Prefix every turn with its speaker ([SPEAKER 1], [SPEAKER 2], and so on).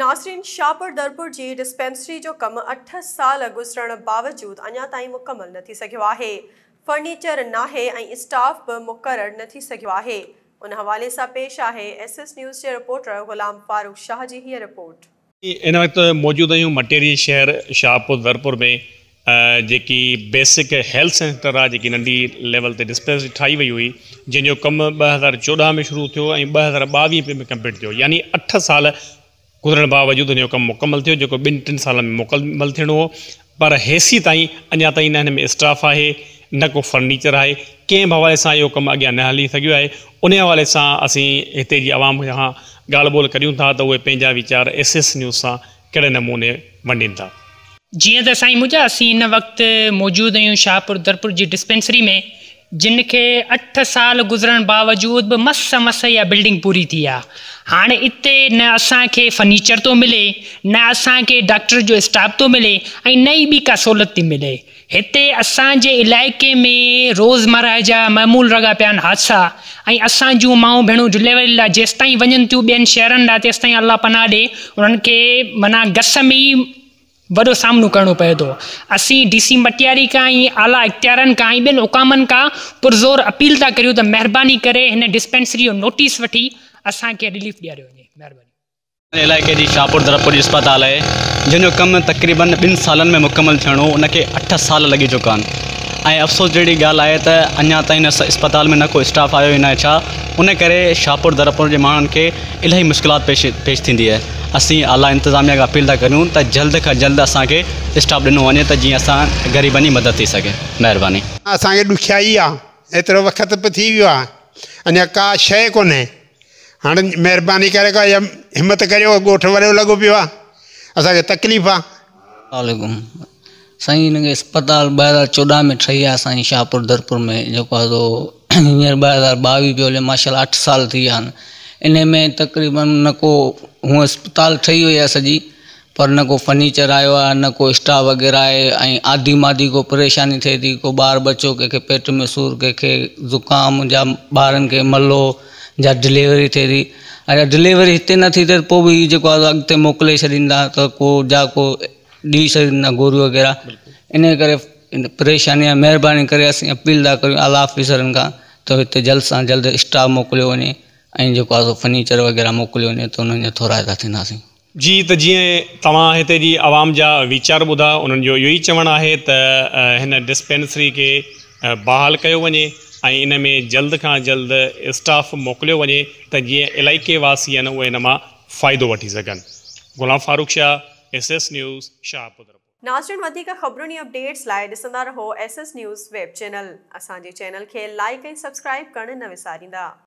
[SPEAKER 1] ناصرين شاهپور درپور جي ڊسپينسري جو ڪم اٺ سال گذرڻ باوجود اڃا تائين مڪمل نه ٿي سگهيو آهي، فرنيچر ناهي ۽ اسٽاف به مقرر نه ٿي سگهيو آهي، ان حوالي سان پيش آهي ايس ايس نيوز جي رپورٽر غلام فاروق شاهه جي هيء رپورٽ. ان وقت
[SPEAKER 2] موجود آهيون مٽيري شهر شاهپور درپور ۾ جيڪي بيسڪ هيلٿ سينٽر آهي جيڪي ننڍي ليول تي ڊسپينسري ٺاهي وئي هئي جنهن جو ڪم ٻه هزار چوڏهن ۾ شروع ٿيو ۽ ٻه هزار ٻاويهه ۾ ڪمپليٽ ٿيو يعني اٺ سال گذرڻ باوجود هن جو ڪم مڪمل ٿيو جيڪو ٻن ٽن سالن ۾ مڪمل ٿيڻو هو پر هيسي تائين اڃا تائين نه هن ۾ اسٽاف آهي نه ڪو فرنيچر آهي ڪنهن به حوالي سان اهو ڪم اڳيان نه هلي سگهيو آهي انهي حوالي سان اسين هتي جي عوام کان ڳالهه ٻولهه ڪريون ٿا ته اهي پنهنجا ويچار ايس ايس نيوز سان ڪهڙي نموني ونڊين ٿا؟ جيئن ته سائين
[SPEAKER 3] موجا اسين هن وقت موجود اهيون شاهپور درپور جي ڊسپينسري ۾ جن کي اٺ سال گذرڻ باوجود به مس مس اها بلڊنگ پوري ٿي آهي هاڻي اتي نه اسان کي فرنيچر ٿو ملي نه اسان کي ڊاڪٽر جو اسٽاف ٿو ملي ۽ نه ئي ٻي ڪا سهولت ٿي ملي هتي اسان جي علائقي ۾ روزمرهه جا معمول رڳا پيا آهن حادثا ۽ اسان جون مائون ڀيڻون ڊليوري لاء جيستائين وڃن ٿيون ٻين شهرن ڏانهن تيستائين الله پناهه ڏي انهن کي معنيٰ گس ۾ ئي وڏو سامنو ڪرڻو پئي ٿو اسين ڊي سي مٽياري کان ۽ اعليٰ اختيارين کان ۽ ٻين حڪامن کان پرزور اپيل ٿا ڪريون ته مهرباني ڪري هن ڊسپينسري جو نوٽيس وٺي اسان کي رليف ڏياريو وڃي مهرباني ان علائقي جي شاهپور
[SPEAKER 4] ضرب پوليس اسپتال آهي جنهن جو ڪم تقريبن ٻن سالن ۾ مڪمل ٿيڻو هو ان کي اٺ سال لڳي چڪا آهن ۽ افسوس جهڙي ڳالهه آهي ته اڃا تائين ان اسپتال ۾ نه ڪو اسٽاف آيو ئي ناهي ڇا ان ڪري شاهپور ضرب پور جي ماڻهن کي الاهي مشڪلات پيش پيش ٿيندي آهي اسين اعليٰ انتظاميا کي اپيل ٿا ڪريون ته جلد کان جلد اسان کي اسٽاف ڏنو وڃي ته جيئن اسان غريبن جي مدد ٿي سگهي مهرباني. اسان کي ڏکيائي
[SPEAKER 5] آ ايترو وقت به ٿي ويو آ اڃا ڪا شئي ڪونهي هاڻ مهرباني ڪري ڪا همت ڪريو ڳوٺ وڏو لڳو پيو آ اسان کي تڪليف آ. عليڪم
[SPEAKER 6] سائين هن کي اسپتال ٻه هزار چوڏهن ۾ ٺهي آ سائين شاهپور درپور ۾ جيڪو آ سو هينئر ٻه هزار ٻاويهه پيو هلي ماشاء الله اٺ سال ٿي ويا آهن انهي ۾ تقريبن نه ڪو هونء اسپتال ٺهي وئي آ سڄي پر نه ڪو فرنيچر آيو آهي نه ڪو اسٽاف وغيره آهي ۽ آڌي ماڌي ڪو پريشاني ٿئي ٿي ڪو ٻار ٻچو ڪنهن کي پيٽ ۾ سور ڪنهن کي زڪام جا ٻارن کي ملو جا ڊليوري ٿئي ٿي اگر ڊليوري هتي نه ٿي ته پوء به هي جيڪو آهي اڳتي موڪلي ڇڏيندا ته ڪو جا ڪو ڏئي ڇڏيندا گوريون وغيره ان ڪري پريشاني آهي مهرباني ڪري اسين اپيل ٿا ڪريون اعليٰ آفيسرن کان ته هتي جلد سان جلد اسٽاف موڪليو وڃي ۽ جيڪو آهي سو فرنيچر وغيره موڪليو وڃي ته انهن جا ٿورائتا ٿينداسين جي ته جيئن
[SPEAKER 2] توهان هتي جي عوام جا ويچار ٻڌا انهن جو اهو ئي چوڻ آهي ته هن ڊسپينسري کي بحال ڪيو وڃي ۽ ان ۾ جلد کان جلد اسٽاف موڪليو وڃي ته جيئن علائقي واسي آهن اهي ان مان فائدو وٺي سگهن Ghulam Farooq Shah S S news Shahpur report. ناظرين وڌيڪ
[SPEAKER 1] خبرن ۽ اپڊيٽس لاء ڏسندا رهو S S news web channel. اسان جي چينل کي لائيڪ ۽ سبسڪرائيب ڪرڻ نه وساريندا.